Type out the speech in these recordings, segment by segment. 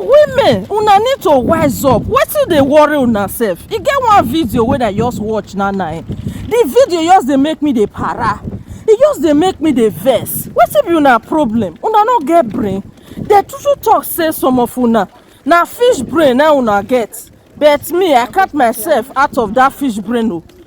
women una need to wise up wetin dey worry una sef e get one video wey i just watch na na eh the video just dey make me dey para e just dey make me dey vex wetin be una problem una no get brain dey too too talk say some of una na fish brain na una get but me i count myself out of that fish brain o. Oh.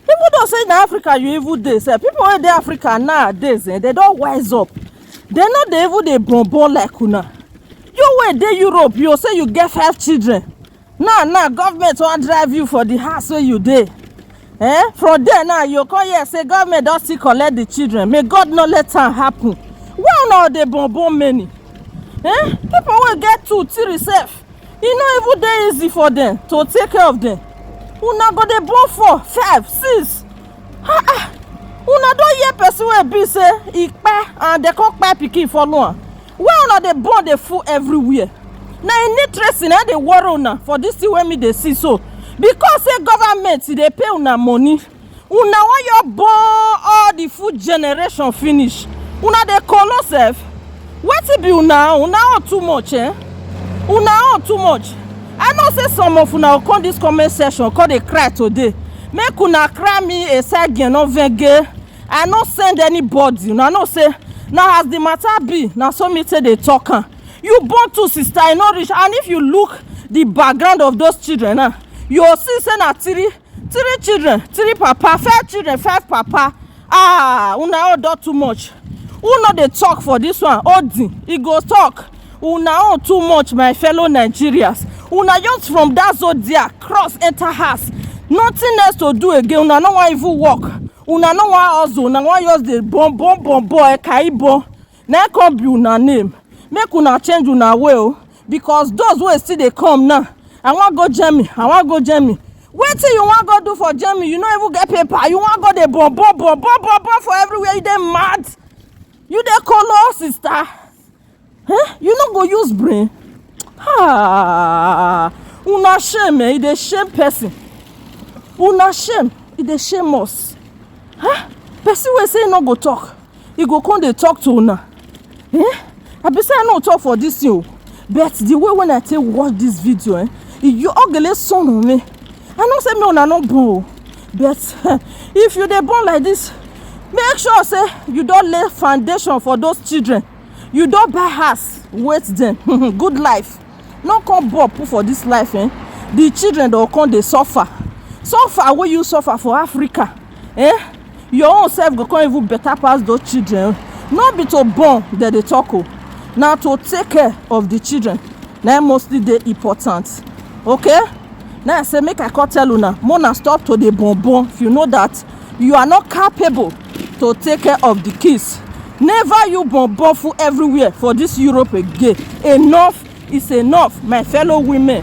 people don say na africa you even dey sef people wey dey africa nowadays eh, they don wise up they no dey even dey born born like una you wey dey europe you say you get five children now now government wan drive you for the house wey you dey eh from there now you come hear say government don still collect the children may god no let am happen why una dey born born many eh people wey get two three sef e no even dey easy for dem to take care of dem una go dey born four five six ah ah una don hear person wey be say e kpai and dem come kpai pikin follow am wey una dey born dey full everywhere na e need tracing na dey worry una for this thing wey me dey see so because say government dey pay una money una wan your born all the food generation finish una dey kolo sef wetin be una own una own too much eh una own too much i know say some of una go come this comment section come dey cry today make una cry me a side girl no venge i no send anybody una know say na as the matter be na so me take dey talk am you born two sister e no reach and if you look the background of those children now you go see say na three three children three papa five children five papa ah una own don too much who no dey talk for this one odin e go talk una own too much my fellow nigerians una just from that zodiac cross enter house nothing else to do again una no wan even work una no wan hustle una wan just dey born born born born ekaibon na im come be una name make una change una way o because those wey still dey come now i wan go germany i wan go germany wetin you wan go do for germany you no even get paper you wan go dey bobo bobo bobo for everywhere you dey mad you dey kolo sister huh? you no go use brain ah una shame eh e dey shame person una shame e dey shame us huh? person wey say e no go talk e go come dey talk to una eh i be say i no talk for this thing o but the way when i take watch this video eh you ogele sọnù mi i know say me una no born o but if you dey born like this make sure say you don lay foundation for those children you don buy house wait them good life. no come bob put for this life eh the children don come dey suffer suffer wey you suffer for africa eh your own self go come even better pass those children no be to born dem dey talk o na to take care of the children na im mostly dey important okay na i say make i come tell una make una stop to dey born born if you know that you are not capable to take care of the kids never you bonbofu everywhere for this europe again enough is enough my fellow women